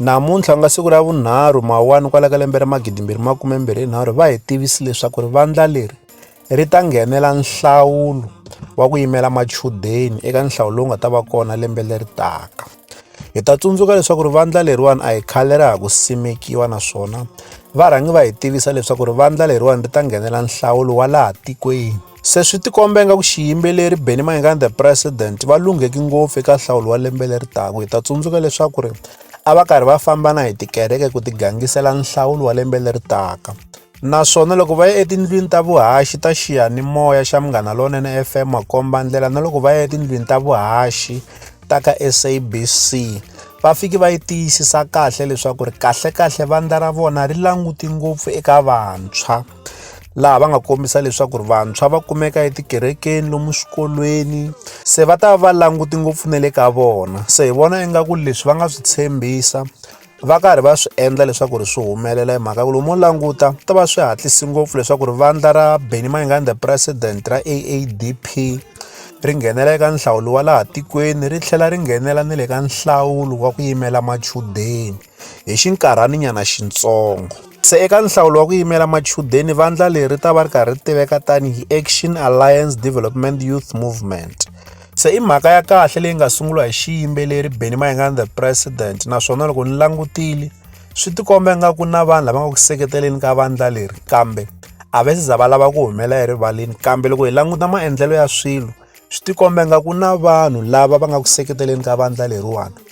Namuntlha ku nga siku ra vunharhu Mawuwani kwala ka lembe ra magidimbirhi makume mbirhi hi nharhu va hi tivisi leswaku ri vandla leri ri ta nghenela nhlawulo wa ku yimela machudeni eka nhlawu lowu nga ta va kona lembe leri taka hi ta tsundzuka leswaku ri vandla leriwani a hi khale ra ha ku simekiwa naswona varhangi va hi tivisa leswaku ri vandla leriwani ri ta nghenela nhlawulo wa laha tikweni. Se swi tikomba ingaku xiyimbeleri Benny Mayengani the President va lungheki ngopfu eka nhlawulo wa lembe leri taka. Hi ta tsundzuka leswaku ri a va karhi va famba na hi tikereke ku tigangisela nhlawulo wa lembe leri taka. Naswona loko va ya etindlwini ta vuhaxi ta xiyanimoya xa Munghana Lonene FM makomba ndlela na loko va ya etindlwini ta vuhaxi ta ka SABC va fiki va yi tiyisisa kahle leswaku ri kahlekahle vandla ra vona ri languti ngopfu eka vantshwa. laha va nga kombisa leswaku ri vantshwa va kumeka etikerekeni lomu swikolweni se va ta va va languti ngopfu na le ka vona se hi vona ingaku leswi va nga swi tshembisa va karhi va swi endla leswaku ri swi humelela hi mhaka ku lomu wo languta ta va swi hatlisi ngopfu leswaku ri vandla ra benny mayengani the president ra aadp ri nghenela eka nhlawulo wa laha tikweni ri tlhela ri nghenela ni le ka nhlawulo wa ku yimela machudeni hi xinkarhaninyana xintsongo. Se eka nhlawulo wa ku yimela machudeni, vandla leri ri ta va ri karhi ri tiveka tanihi Action Alliance Development Youth Movement. Se i mhaka ya kahle leyi nga sunguriwa hi xiyimbeleri Benny Mayengani the President naswona loko ni langutile swi tikomba nga ku na vanhu lava nga ku seketeleni ka vandla leri kambe a va se za va lava ku humela erivaleni kambe loko hi languta maendlelo ya swilo swi tikomba nga ku na vanhu lava va nga ku seketeleni ka vandla leriwani.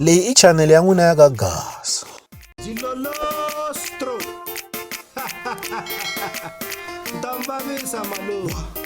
leyi i chanele ya n'wina ya ka gasa ndambavisa maluva